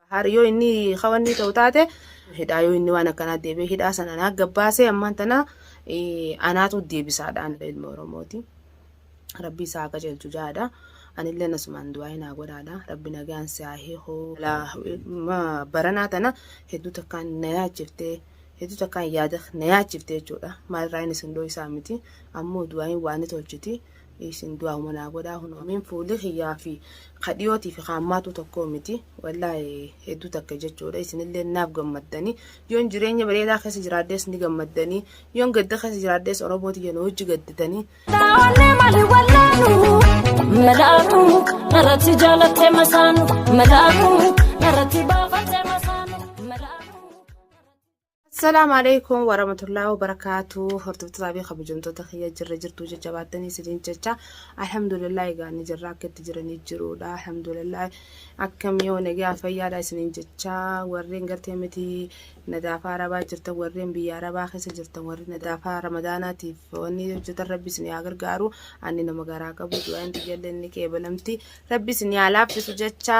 Bahaar yoo inni hawannii ta'u taate hidhaa yoo inni waan akkanaa deebi'ee hidhaa sana anaa gabbaasee ammaan tana anaatu deebisaadha anillee ilma Oromooti. Rabbii isaa akka jeelchu jaadha. Anillee nasumaan du'aa hin haa godhaadha. Rabbi nagaan si haa hiiku. Baranaa tana hedduu takkaan na yaachiftee hedduu takkaan yaada na yaachiftee jechuudha. Maalirraa inni sun dhoo isaa miti. Ammoo du'aa hin waan ni tolchiti. isin du'aa'uma naa godhaa kunoo min fuuli kiyyaa fi ka dhiyootii fi ka ammaatuu tokkoo miti wallaahi hedduu takka jechuudha isinillee naaf gammaddanii yoon jireenya bareedaa keessa jiraadhees ni gammaddanii yoon gadda keessa jiraadhees oromoo tiyya na wajji gadditanii Taa'alee malee wallaanu malaaku narratti jaalattee masaanu malaaku narratti baafattee masaanu. Assalaamu alaikum warahmatullahi wabarakatuh hordoftoota fi kabajamtoota kiyya jirra jirtuu jajjabaattanii isiniin jecha alhamdulillah egaa ni jirra akka itti jiranii jiruudha alhamdulillah akkam yoo nagaa fayyaadha isiniin jecha warreen gartee miti nadaafaa arabaa jirtan warreen biyya arabaa keessa jirtan warri nadaafaa ramadaanaatiif wanni hojjetan rabbi isin yaa gargaaru ani nama garaa qabu du'aan xiyyalle inni qeebalamti rabbi isin yaa laaffisu jecha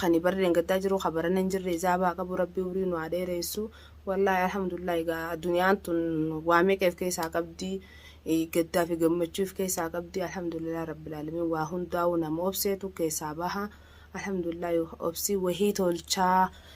Kani barri dhengaddaa jiru ka barana hin jirre ijaaba haa qabu rabbi umrii nu haa dheereessu wallahi alhamdulillah egaa aduniyaan tun waa meeqa if keessaa qabdi gaddaa fi gammachuu if keessaa qabdi alhamdulillah rabbil aalamiin waa hundaa'uu nama obseetu keessaa baha alhamdulillah obsii wahii tolchaa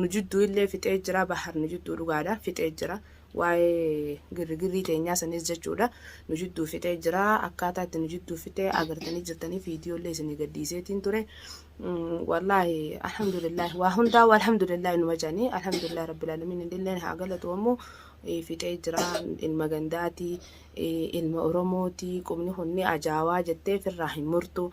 nu jidduu illee fixee jira bahar nu jidduu dhugaadha fixee jira waa'ee girrigirrii teenyaa sanis jechuudha nu jidduu fixee jira akkaataa itti nu jidduu fixee agartanii jirtanii viidiyoo illee isinii gadhiiseetiin ture wallaahi alhamdulillah waa hundaa waa alhamdulillah numa jedhanii alhamdulillah rabbil alamin illee haa galatu ammoo fixee jira ilma gandaatii ilma oromooti qubni kun ni ajaawaa jettee firraa hin murtu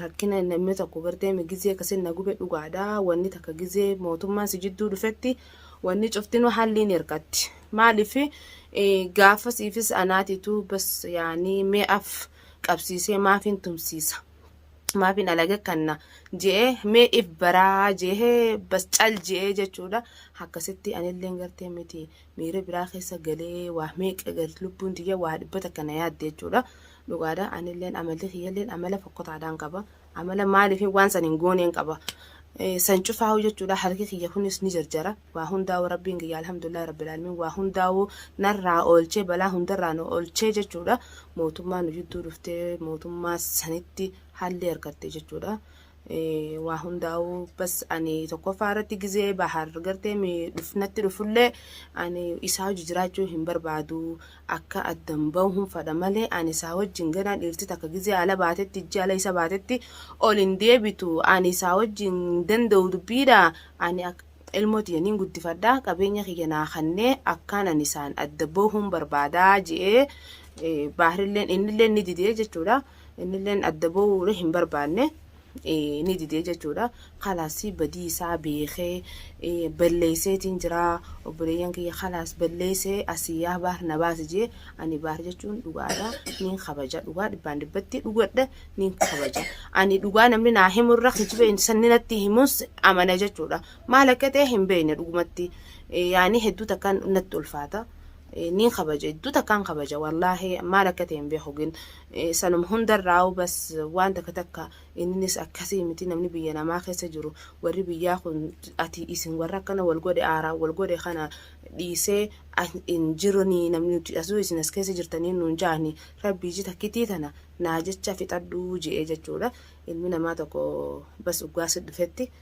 rakkina namni tokko gartee mi gizee kasin na gube dhugaadha wanni takka gizee mootummaan si jidduu dhufetti wanni cuftinuu halliin hirkatti maaliif gaafasiifis anaatitu bas yaanii mee af qabsiisee maafiin tumsiisa maafiin alaga kanna je'ee mee if baraa je'ee bas cal je'ee jechuudha akkasitti anilleen gartee miti miira biraa keessa galee waa meeqa gad lubbuun tiyya waa dhibba takka na yaadde jechuudha. Dhugaadha anilleen amalli kiyyalleen amala fokkotaadhaan qaba. Amala maaliif waan san hin gooneen qaba. Eh, San cufaa'u jechuudha harki kiyya kunis ni jarjara. Waa hundaa'u rabbiin kiyya alhamdulillah rabbil aalamiin waa hundaa'u narraa oolchee balaa hundarraa nu oolchee jechuudha. Mootummaa nu jidduu dhuftee mootummaa sanitti haalli argatte jechuudha. waa hundaa'uu bas ani tokkoffaa irratti gizee bahar gartee natti dhufullee ani isaa hojii jiraachuu hin barbaadu akka addan bahu hin fadha malee ani isaa wajjin ganaa dhiirti takka gizee ala baatetti ijji ala isa baatetti ol hin deebitu ani isaa wajjin hin danda'u dubbiidha ani ilmoo tiyya niin guddifadha qabeenya kiyya naa kannee akkaan ani isaan adda bahuun barbaadaa je'ee baarilleen innillee ni didee jechuudha. Innilleen adda ba'uure hin barbaanne ni didee jechuudha. Kalaas badii isaa beekee balleesseetiin jira obboleeyyan kiyya kalaas balleessee asii yaa baar na baasi jee ani baar jechuun dhugaadha niin kabaja dhugaa dhibbaan dhibbatti dhugadha niin kabaja ani dhugaa namni naa himu irra kijiba sanni natti himus amana jechuudha maal akka ta'e hin beekne dhugumatti yaani hedduu takkaan natti ulfaata niin kabaja hedduu takkaan kabaja wallaahi maal akka ta'e hin beeku gin Sanuma hundarraa'uu bas waan takka takka inninis akkasii miti namni biyya namaa keessa jiru warri biyyaa kun ati isin warra akkana wal godhe aaraan wal godhe kana dhiisee hin jiruni namni nuti asuu isin as keessa jirtanii nuun jaani rabbii iji takkitii tana naa jecha fixadhuu je'ee jechuudha ilmi namaa tokko bas uggaasi dhufetti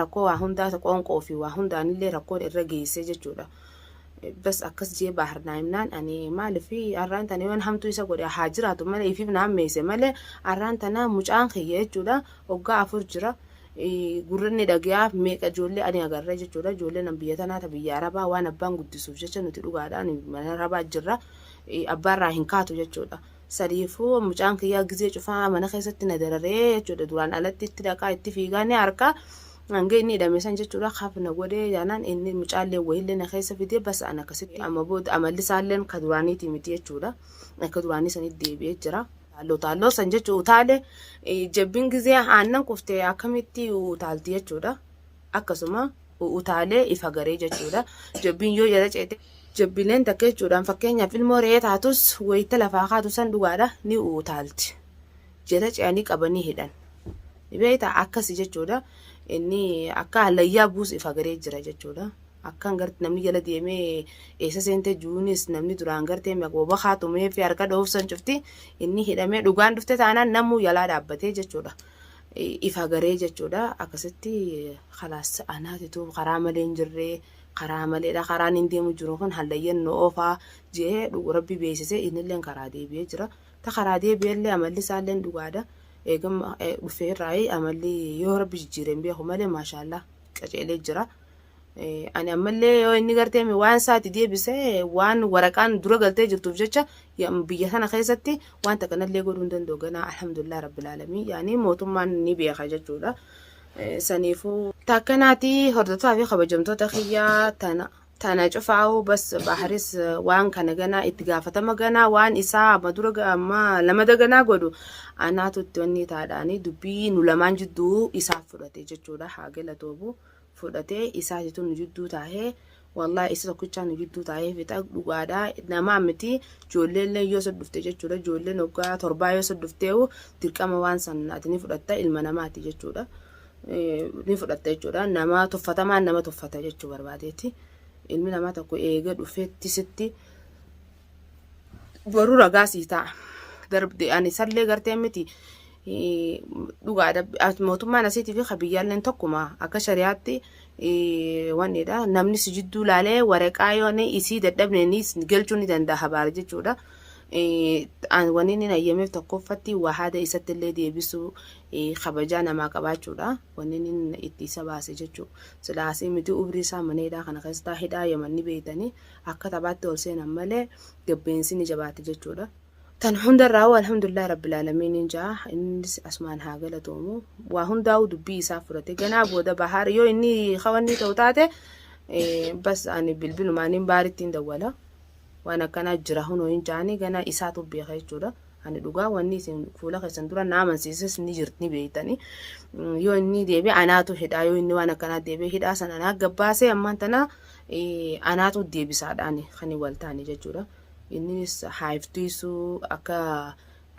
Rakkoo waa hundaa ta qoonqoo fi waa hundaanillee rakkoon irra geessee jechuudha. Bas akkas jee baahar naa himnaan ani maaliif arraan tana yoon hamtuu isa godhe haa jiraatu malee ifiif na hammeesse malee arraan tana mucaan kiyya jechuudha oggaa afur jira. Gurranni dhagayaa meeqa ijoollee ani agarra jechuudha ijoollee nan biyya tanaa ta biyya arabaa waan abbaan guddisuuf jecha nuti dhugaadhaan mana arabaa jirra abbaarraa hin kaatu jechuudha. Sadiifuu mucaan kiyyaa gizee cufaa mana keessatti na dararee jechuudha duraan alatti itti dhaqaa itti fiigaa ni harkaa hanga inni hidhame san jechuudha kaaf na godhee jaanaan inni mucaallee wayiillee na keessa fidee basa an akkasitti amma booda amalli isaalleen ka duraaniitii miti jechuudha akka duraanii sanitti deebi'ee jira. Taalloo taalloo san jechuun utaalee jabbin gizee aannan kufte akkamitti utaalti jechuudha. akkasuma utaalee ifa garee jechuudha. Jobbiin yoo jala ceete jobbileen takka jechuudhaan fakkeenyaaf ilmoo re'ee taatus wayita lafaa kaatu san dhugaadha ni utaalti. Jala ce'anii qabanii hidhan. Ni beekta akkasi jechuudha. Inni akka hallayyaa buus ifa garee jira jechuudha. Akkan garte namni jala deemee eessa seentee jiruunis namni duraan gartee maqooba haa tumee fi harka dhoofsan cufti inni hidhamee dhugaan dhufte taanaan namuu jalaa dhaabbatee jechuudha. if agaree jechuudha akkasitti kalaas anaatitu karaa malee hin jirree karaa maleedha karaan hin deemu jiru kun hallayyan nu oofaa jee dhugu rabbi beeksise innillee karaa deebi'ee jira ta karaa deebi'ellee amalli isaallee dhugaadha eegam dhufee irraa amalli yoo rabbi jijjiireen beeku malee maashaallaa qaceelee jira. Eh, Ani ammallee yoo inni gartee mi- waan isaati deebise waan waraqaan dura galtee jirtuuf jecha ya- biyya sana keessatti waan takka nallee godhuu hin danda'u ganaa alhamdulillah rabbil aalamiin yaani mootummaan ni beeka jechuudha. Eh, Saniifuu takka naati hordofaa fi kabajamtoota kiyyaa tana tana cufaa'u bas baharis eh, waan kana ganaa itti gaafatama ganaa waan isaa amma dura ga- amma lamada ganaa godhu anaatu itti onnii taadhaanii dubbii nu lamaan jidduu isaaf fudhate jechuudha haa galatoomu. fudhate isaatitu nu jidduu taahee wallahi isa tokkichaa nu jidduu taahee fixa dhugaadha namaa miti joolleellee yoo soddufte jechuudha joolleen hoggaa torbaa yoo soddufteehu dirqama waan sannaati ni fudhatta ilma namaati jechuudha ni fudhatta jechuudha namaa tuffatamaan nama tuffata jechuu barbaadeeti ilmi namaa tokko eega dhufeetti sitti boruu ragaa sii ta'a. Darbde ani sallee gartee miti eh, dhugaadha As- mootummaan asiitii fi kabiyyaalleen tokkuma akka shari'aatti eh, wannidha namni si jidduu laalee waraqaa yoo ni isii dadhabne ni is- galchuu ni danda'a habaara jechuudha. Eh, an- Wanni inni hayyameef tokkoffatti waa haada isatti illee deebisuu eh, kabajaa namaa qabaachuudha wanni inni itti isa baase jechuudha. Silaasii miti umrii isaa maneedhaa kana keessaa hidhaa yamanni beeytanii akka taphaatti ol seenan malee gabbeensi ni jabaata jechuudha. Tan hundarraa alhamdulillah rabbil aalamiin jaa innis asumaan haa galatoomu waa hundaa'uu dubbii isaa fudhate ganaa booda bahaar yoo inni hawannii ta'u taate bas ani bilbilumaan hin baaritti hin dawwala waan akkanaa jira hunoo hin jaanii ganaa isaatu beeka jechuudha. Ani dhugaa wanni isin fuula keessan dura na amansiises ni jirti ni beektanii yoo inni deebi'e anaatu hidhaa yoo inni waan akkanaa deebi'e hidhaa san anaa gabbaasee ammaan tanaa Anaatu deebisaadhaan kan wal taane jechuudha. Innis haayiftiisuu akka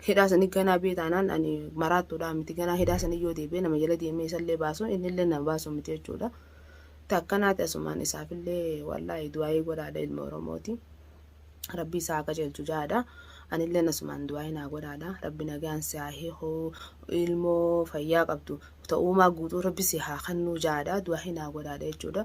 hidhaa sanii ganaa bee taanaan ani maraattuudhaa miti ganaa hidhaa sanii yoo deebi'ee nama jala deemee isallee baasu innillee nama baasu miti jechuudha. Takkanaati asumaan isaafillee wallaahi du'aayii godhaadha ilma Oromooti. Rabbi isaa akka jeelchu jaadha. Anillee asumaan du'aayii naa godhaadha. Rabbi nagaan si haa hiikuu ilmoo fayyaa qabdu ta'uumaa guutuu rabbi si haa kannuu jaadha. Du'aayii naa godhaadha jechuudha.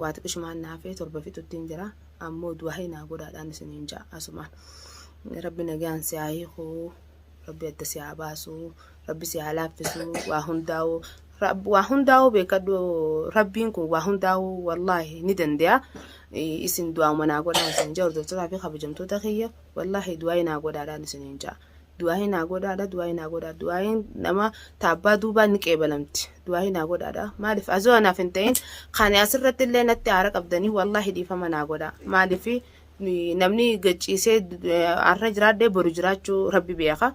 waa xiqishumaan naafee torba fixuttiin jira ammoo du'aahi naa godhaadhaan isiniin ja'a asumaan rabbi nagaan si haa hiikuu rabbi adda si haa baasuu rabbi si haa laaffisuu waa hundaa'uu waa hundaa'uu beekadhu rabbiin kun waa hundaa'uu wallaahi ni danda'a isin du'aa'uma naa godhaan isin ja'a hordoftotaa fi kabajamtoota kiyya wallaahi du'aayi naa godhaadhaan isiniin ja'a du'aa'ii naa godhaadha du'aa'ii naa godhaa du'aa'iin nama taabbaa duubaa ni qeebalamti du'aa'ii naa godhaadha maaliif azoo anaaf hin ta'in kan asirratti illee natti aara qabdanii wallaahi dhiifama naa godhaa maaliif namni gachiisee har'a jiraadhee boru jiraachuu rabbi beeka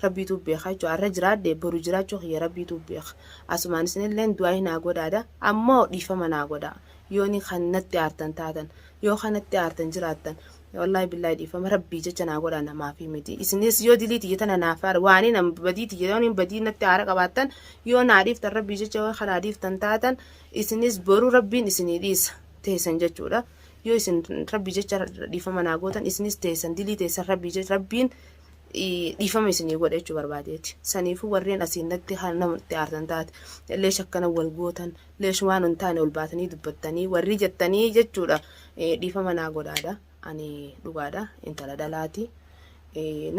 rabbiitu beeka jechuudha har'a jiraadhee boru jiraachuu kiyya rabbiitu beeka asumaan isinillee du'aa'ii naa godhaadha ammoo dhiifama naa godhaa yooni kan natti aartan taatan yoo kanatti aartan jiraattan Wallahi billahi dhiifama rabbii jecha naa godhaa namaafii miti. Isinis yoo dilii tiyya tana naaf haara waanii nam badii tiyya yoo nin badii natti haara qabaattan yoo naa dhiiftan rabbii jecha yoo kanaa dhiiftan taatan isinis boruu rabbiin isinii dhiisa teessan jechuudha. Yoo isin rabbii jecha dhiifama naa gootan isinis teessan dilii teessan rabbii jecha rabbiin dhiifama isinii godha jechuu barbaadeeti. Saniifuu warreen asiin natti natti aartan taate illee shakkana wal gootan Lesh waan hin taane ol baatanii dubbattanii warrii jettanii jechuudha dhiifama naa godhaadha ani dhugaadha intala dhalaati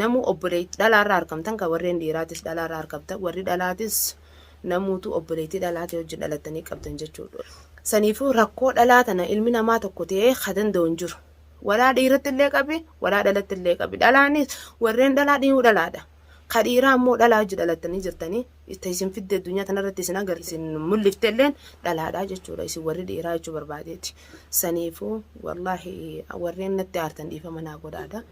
namuu obboleetti dhalaarraa harkamtan kan warreen dhiiraatis dhalaarraa harkamtan warri dhalaatis namuutu obboleettii dhalaatii wajjin dhalattanii qabdan jechuudha. Saniifuu rakkoo dhalaa tana ilmi namaa tokko ta'ee ka danda'u hin jiru. Walaa dhiiratti illee qabi, walaa dhalatti illee qabi. Dhalaanis warreen dhalaa dhiyuu dhalaadha. Ka dhiiraa immoo dhalaa wajji dhalattanii jirtanii itti isin fidde addunyaa tanarratti isin agar isin mul'ifte illeen dhalaadhaa jechuudha isin warri dhiiraa jechuu barbaadeeti saniifuu wallaahi warreen natti aartan dhiifama naa godhaadha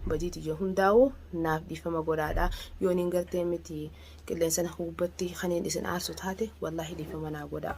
badii tiyya hundaa'u naaf dhiifama godhaadha yoo niin gartee miti qilleensana hubbatti kaniin isin aarsu taate wallaahi dhiifama naa godhaa.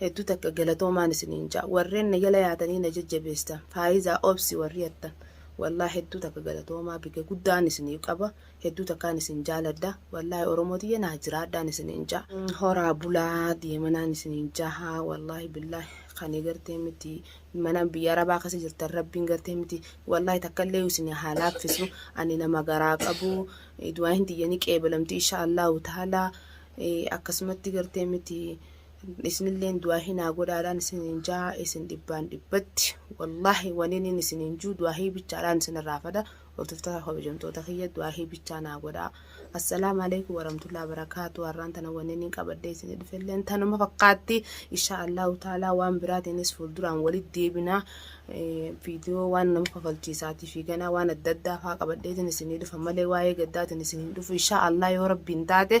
Hedduu takka galatoomaan isiniin ja'a warreen na jala yaatanii na jajjabeessitan Faayizaa obsi warri jattan wallahi hedduu takka galatoomaa bige guddaan isiniif qaba hedduu takkaan isin jaaladha wallahi oromoo tiyya naa jiraadhaan isiniin ja'a horaa bulaa deemanaan isiniin jaha wallahi billahi kani gartee miti mana biyya arabaa kasa jirtan rabbiin gartee miti wallahi takkallee isin haa laaffisu ani nama garaa qabu du'aahin tiyyanii qeebalamti insha allahu ta'ala akkasumatti gartee miti isinilleen du'aahii naa godhaadhaan isiniin jaa isin dhibbaan dhibbatti wallaahi waniniin isiniin juu du'aahii bichaadhaan isinirraa fada hordoftoota kabajamtoota kiyya du'aahii bichaa naa godhaa assalaamu alaikum warahmatullahi wabarakaatu har'aan tana waniniin qabadhee isinii dhufelleen tanuma fakkaatti insha allahu taalaa waan biraatiinis fuulduraan walitti deebinaa viidiyoo waan nama kafalchiisaatii fi ganaa waan adda addaa faa qabadheetiin isinii dhufa malee waa'ee gaddaatiin isin hin dhufu insha allah yoo rabbiin taate